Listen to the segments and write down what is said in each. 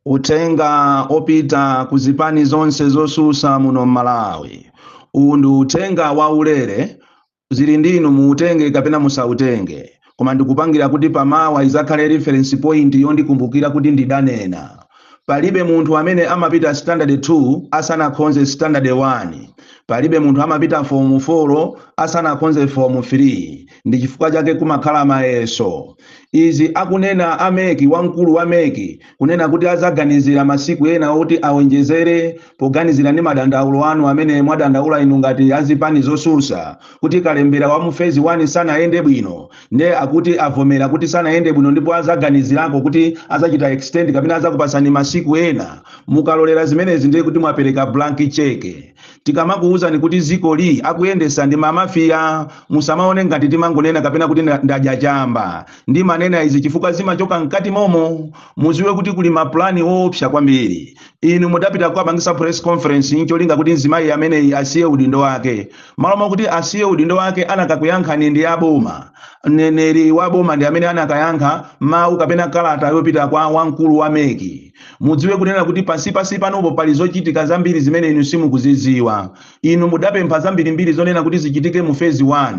uthenga opita ku zipani zonse zosusa muno mmalawi uwu ndi uthenga waulere zili ndi inu muutenge kapena musautenge koma ndikupangira kuti pamawa izakhale reference point yondikumbukira kuti ndidanena palibe munthu amene amapita standard 2 asanakhonze standard 1 palibe munthu amapita form 4 asanakhonze form 3 ndi chifukwa chake kumakhala mayeso Izi akunena a mec wamkulu wa mec kunena kuti azaganizira masiku ena oti awonjezere poganizira ndi madandaulo anu amene mwadandaula inu ngati azipani zosusa kuti kalembera wa mu phase 1 sanayende bwino nde akuti avomera kuti sanayende bwino ndipo azaganizirako kuti azachita extend kapena azakupasani masiku ena mukalolera zimenezi ndiye kuti mwapereka blank cheque Tikamakuuzani kuti dziko li akuyendesa ndi ma mafia musamaone ngati timangonena kapena kuti ndadya chamba. Ndimanena izi chifukwa zimachoka mkati momo. Muziwe kuti kuli ma plan oopsa kwambiri. Inu mudapita kukapangisa press conference ncholinga kuti mzimayi ameneyi asiye udindo wake. Malo mokuti asiye udindo wake anakakuyankhani ndi a boma. Mneneri wa boma ndi amene anakayankha mau kapena kalata yopita kwa wamkulu wa mec. mudziwe kunena kuti pansi pansi panopo pali zochitika zambiri zimene inu simukuzidziwa inu mudapempha zambirimbiri zonena kuti zichitike mu phase 1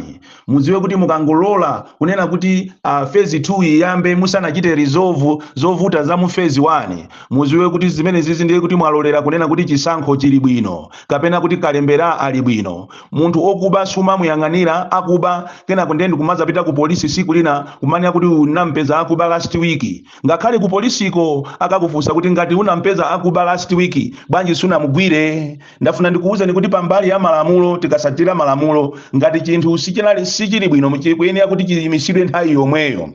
mudziwe kuti mukangolola kunena kuti uh, phase 2 iyambe musanachite resolve zovuta za mu phase 1 mudziwe kuti zimenezizi ndiye kuti mwalolera kunena kuti chisankho chili bwino kapena kuti kalembera ali bwino munthu okuba sumamuyang'anira akuba kenako ndiye ndikumazapita ku polisi siku lina kumanena kuti unampeza akuba last week Ngakhale ku polisiko akakufunsa kuti ngati unampeza akuba last week bwanji sunamugwire? Ndafuna ndikuuzeni kuti pambali ya malamulo tikasatira malamulo ngati chinthu sichili bwino chikuyenera kuti chiyimisidwe nthawi yomweyo.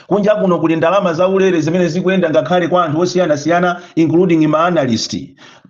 Kunja kuno kuli ndalama zaulere zimene zikuyenda ngakhale kwa anthu osiyanasiyana including ma analyst.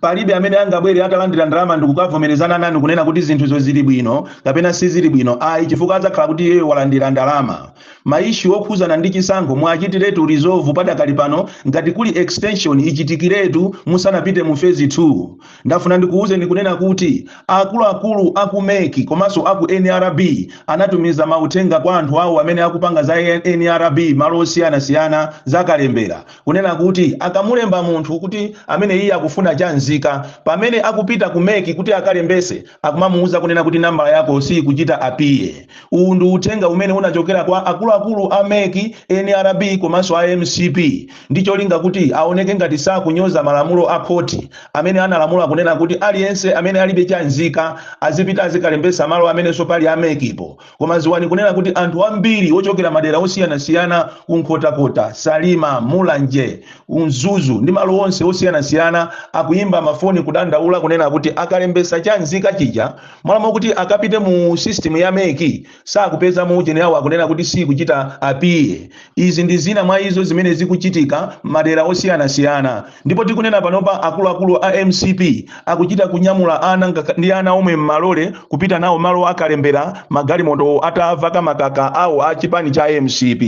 Palibe amene angabwere atalandira ndalama ndikukavomerezana nanu kunena kuti zinthuzo zili bwino kapena sizili bwino ayi chifukwa adzakhala kuti iyeyo walandira ndalama. Ma issue okhuzana ndi chisankho muachitiretu resolve padakali pano ngati kuli extension ichitikiretu musanapite mu phase 2. Ndafuna ndikuuzeni kunena kuti akuluakulu a ku mec komanso a ku nrb anatumiza mauthenga kwa anthu awo amene akupanga za nrb mmalo osiyanasiyana za kalembera kunena kuti akamulemba munthu kuti ameneyi akufuna cha nzika pamene akupita ku mec kuti akalembetse akumamuuza kunena kuti nambala yako siyikuchita appear. Uwu ndi uthenga umene unachokera kwa akuluakulu a mec, nrb komanso a mcp ndi cholinga kuti aoneke ngati sakunyoza malamulo a khoti amene analamula kunena kuti aliyense amene alibe cha nzika azipita azikalembetsa malo amenenso pali a mec po. Koma ziwani kunena kuti anthu ambiri ochokera madera osiyanasiyana ku Nkhotakota, Salima, Mulanje, ku Mzuzu ndi malo onse osiyanasiyana akuyimba mafoni kudandaula kunena kuti akalembetsa cha nzika chija, Mmalo mwakuti akapite mu system ya mec sakupezamo ujeni awo akunena kuti sikuchita appear. Izi ndi zina mwa izo zimene zikuchitika madera osiyanasiyana ndipo tikunena panopa akuluakulu a mcp akuchita kunyamula ana ndi ana omwe mmalole kupita nawo malo a kalembera magalimoto atavaka- makaka awo a chipani cha mcp.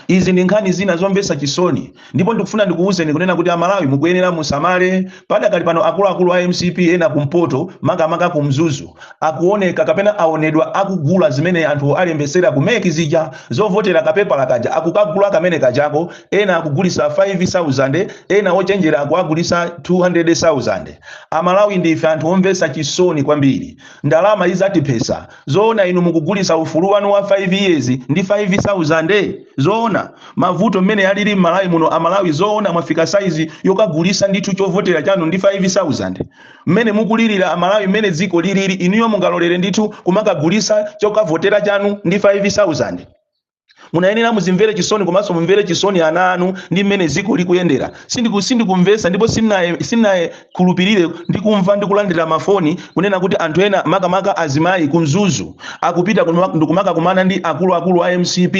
izi ndi nkhani zina zomvetsa chisoni ndipo ndikufuna ndikuwuzeni kunena kuti amalawi mukuyenera musamale padakali pano akuluakulu a mcp ena kumpoto makamaka ku mzuzu akuoneka kapena aonedwa akugula zimene anthu alembesera kumeki zija zovotera kapepala kaja akukagula kamene kajako ena akugulisa 5000 ena ochenjera akuwagulisa 200000 amalawi ndife anthu omvetsa chisoni kwambiri ndalama izatiphesa Zoona inu mukugulisa ufulu wanu wa 5 years ndi 5 sauzande? Zoona? Mavuto mmene alili mmalawi muno amalawi zoona mwafika size yokagulisa ndithu chovotera chanu ndi 5 sauzande? Mmene mukulilira amalawi mmene dziko lilili inuyo mungalolere ndithu kumakagulisa chokavotera chanu ndi 5 sauzande? munayenera muzimvere chisoni komanso mumvere chisoni ana anu ndi mmene dziko likuyendera Sindikumvetsa ndipo sinaye- khulupirire ndi kumva ndi kulandira mafoni kunena kuti anthu ena makamaka azimayi ku mzuzu akupita kuma- ndikumakakumana ndi akuluakulu a mcp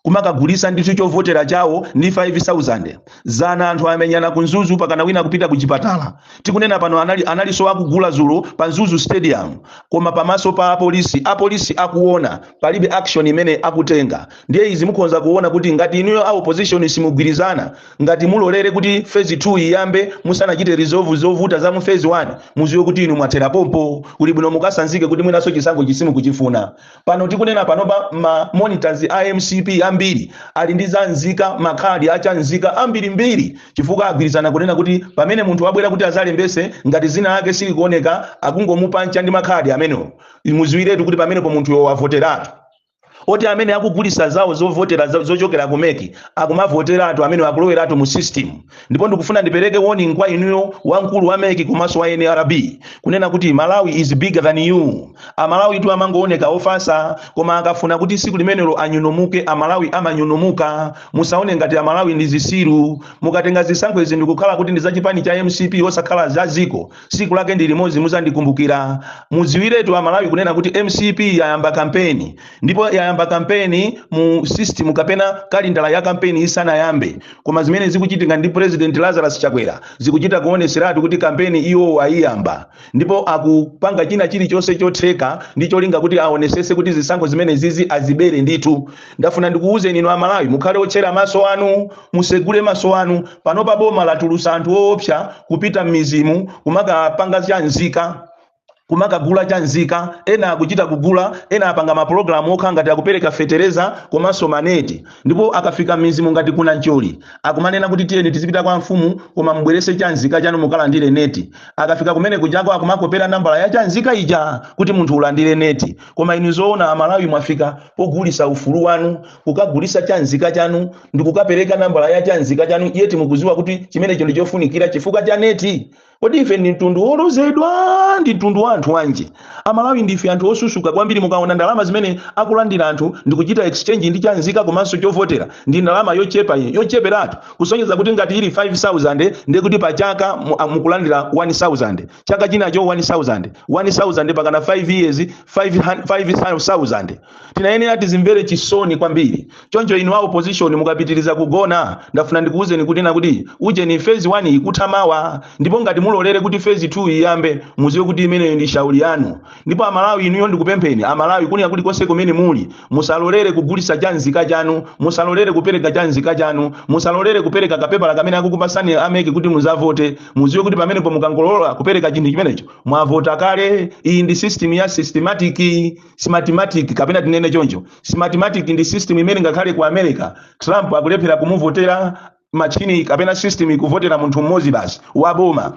kumakagulisa ndithu chovotera chawo ndi 5000 zana anthu amenyana ku mzuzu pakana wina akupita ku chipatala tikunena pano analiso akugula zulo pa Mzuzu stadium koma pamaso pa apolisi apolisi akuona palibe action imene akutenga ndiye izi mukhonza kuona kuti ngati inuyo a opposition simugwirizana ngati mulolere kuti phase 2 iyambe musanachite resolve zovuta za mu phase 1 muziwe kuti inu mwathera pompo kuli bwino mukasanzike kuti mwinaso chisankho chi simukuchifuna Pano tikunena panopa ma monitors a mcp ambiri ali ndi za nzika makhadi a cha nzika ambirimbiri chifukwa agwirizana kunena kuti pamene munthu wabwera kuti azalembese ngati zina lake silikuoneka akungomupancha ndi makhadi amenewo muziwiretu kuti pamenepo munthuyo wavoteratu oti amene akugulisa zawo zovotera zo- zochokera ku meki akumavoteratu amene akuloweratu mu system ndipo ndikufuna ndipereke warning kwa inuyo wamkulu wa meki komanso wa nrb kunena kuti malawi is bigger than you amalawi tu amangooneka ofasa koma akafuna kuti siku limenelo anyunomuke amalawi amanyunomuka musaone ngati amalawi ndi zisiru mukatenga zisankho izi ndikukhala kuti ndi za chipani cha mcp osakhala za ziko siku lake ndi limodzi muzandikumbukira mudziwiretu amalawi kunena kuti mcp yayamba kampeni ndipo yayamba kampeni mu system kapena kalindala ya kampeni isanayambe koma zimene zikuchitika ndi president lazarus chakwera zikuchita kuoneseratu kuti kampeni iwo ayiyamba ndipo akupanga china chilichonse chotheka ndi cholinga kuti aonesese kuti zisankho zimenezizi azibere ndithu ndafuna ndikuwuzeni inu amalawi mukhale otchera maso anu musegule maso anu panopa boma latulusa anthu oopsa kupita m'mizimu kumakapanga cha nzika kumakagula cha nzika ena akuchita kugula ena apanga mapulogalamu okha ngati akupereka fetereza komanso maneti ndipo akafika m'mizimu ngati ku Namcholi akumanena kuti tiyeni tizipita kwa mfumu koma mubwerese cha nzika chanu mukalandire neti akafika kumene kujako akumakopera nambala ya cha nzika ija kuti munthu ulandire neti koma inu zoona amalawi mwafika pogulisa ufulu wanu kukagulisa cha nzika chanu ndi kukapereka nambala ya cha nzika chanu yeti mukuziwa kuti chimenecho ndi chofunikira chifukwa cha neti kodi ife ndi mtundu wolozedwa ndi mtundu wa anthu wanji amalawi ndife anthu osusuka kwambiri mukaona ndalama zimene akulandira anthu ndi kuchita exchange ndi chanzika komanso chovotera ndi ndalama yochepa iyi yocheperatu kusonyeza kuti ngati ili 5000 ndiye kuti pa chaka mu- a- mukulandira 1000 chaka chinacho 1000 1000 pakana 5 years 500 5000 tinayenera tizimvere chisoni kwambiri choncho inu a opposition mukapitiriza kugona ndafuna ndikuwuzeni kuti na kuti ujeni phase 1 ikutha mawa ndipo ngati mulolere kuti phase 2 iyambe muziwe kuti imeneyo ndi shauli yanu ndipo amalawi inuyo ndikupempheni amalawi kunena kuti konse kumene muli musalolere kugulisa cha nzika chanu musalolere kupereka cha nzika chanu musalolere kupereka kapepala kamene akukupasani a meki kuti muzavote muziwe kuti pamenepo mukangolola kupereka chinthu chimenecho mwavota kale iyi ndi system ya smartmatic smartmatic kapena tinene choncho smartmatic ndi system imene ngakhale ku america trump akulephera kumuvotera machini kapena system ikuvotera munthu mmodzi basi wa boma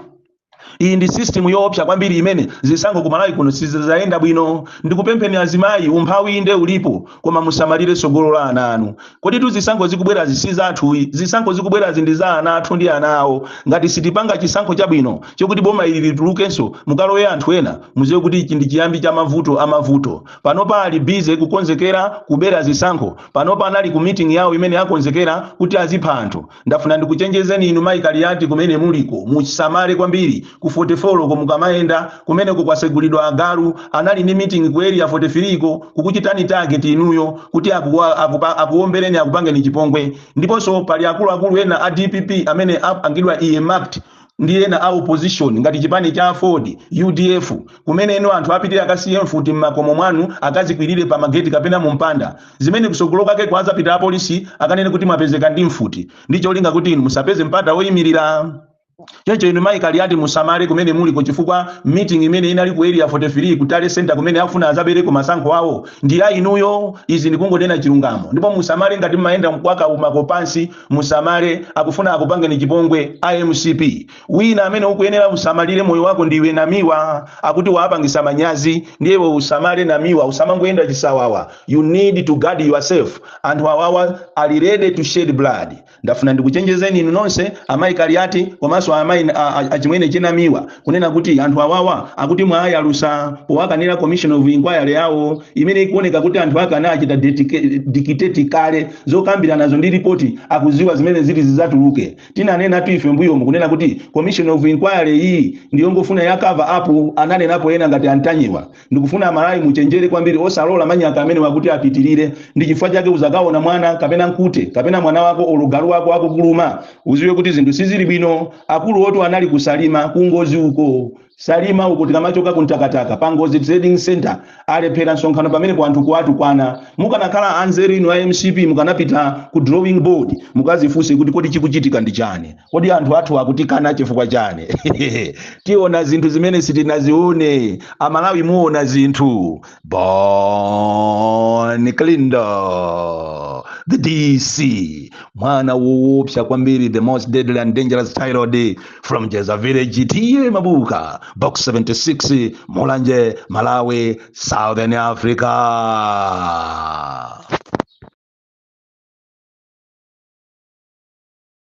iyi ndi system yoopsa kwambiri imene zisankho ku malawi kuno sizizayenda bwino ndikupempheni azimayi umphawi inde ulipo koma musamalire tsogolo la ana anu Koditu zisankho zikubwerazi si zathu ayi, zisankho zikubwerazi ndi za ana athu ndi ana awo. Ngati sitipanga chisankho chabwino chokuti boma ili litulukenso mukalowe anthu ena, muziwe kuti ichi ndi chiyambi cha mavuto a mavuto. Panopa ali busy kukonzekera kubera zisankho, panopa anali ku meeting yawo imene akonzekera kuti azipha anthu. Ndafuna ndikuchenjezeni inu mayi Kaliati kumene muliko musamale kwambiri ku 44 ko mukamayenda kumeneko kwasegulidwa agalu anali ndi meeting ku area 43 ko kukuchitani target inuyo kuti akuombereni akupangeni chipongwe ndiponso pali akuluakulu ena a dpp amene apangidwa earmarked ndi ena a opposition ngati chipani cha aford udf kumene inu anthu apitire akasiye mfuti m'makomo mwanu akazikwirire pa mageti kapena mu mpanda zimene kusogolo kwake kuzapita apolisi akanene kuti mwapezeka ndi mfuti ndi cholinga kuti inu musapeze mpata woyimirira choncho inu mayi kaliyati musamale kumene muliko chifukwa meeting imene inali ku area 43 ku tally center kumene akufuna azabereko masankho awo ndi ya inuyo izi ndikungonena chilungamo ndipo musamale ngati mmayenda mkwake umakopansi Musamale akufuna akupangeni chipongwe a mcp. Wina amene ukuyenera usamalire moyo wako ndiwe Namiwa akuti wawapangisa manyazi ndiye iwe usamale Namiwa usamangoyenda chisawawa you need to guard yourself anthu awawa ali ready to shed blood. Ndafuna ndikuchenjezeni inu nonse amayi Kaliati komanso amayi a, a, achimwene che Namiwa kunena kuti anthu awawa akuti mwawayalusa powakanira commission of inquiry yawo imene ikuoneka kuti anthu ake anachita dictate kale zokambiranazo ndi ripoti akuziwa zimene zili zizatuluke tinanenatu ife mbuyomu kunena kuti commission of inquiry iyi ndiyongofuna ya cover up ananenapo ena ngati a Ntanyiwa ndikufuna amalawi muchenjere kwambiri osalola manyaka amenewa kuti apitirire ndi chifukwa chake uzakaona mwana kapena nkute kapena mwana wako olo galu wako akukuluma uziwe kuti zinthu sizili bwino akulu woti anali ku Salima ku Ngodzi uko salima uko tikamachoka ku Mtakataka pa Ngodzi trading center alephera msonkhano pamenepo anthu kuwatukwana mukanakhala anzeru inu a mcp mukanapita ku drawing board mukazifunse kuti kodi chikuchitika ndi chani kodi anthu athu akutikana chifukwa chani tiona zinthu zimene sitinazione amalawi muona zinthu Bon Kalindo the dc mwana woopsa kwambiri the most deadly and dangerous child from jeza village TA Mabuka box 76 mulanje malawi southern africa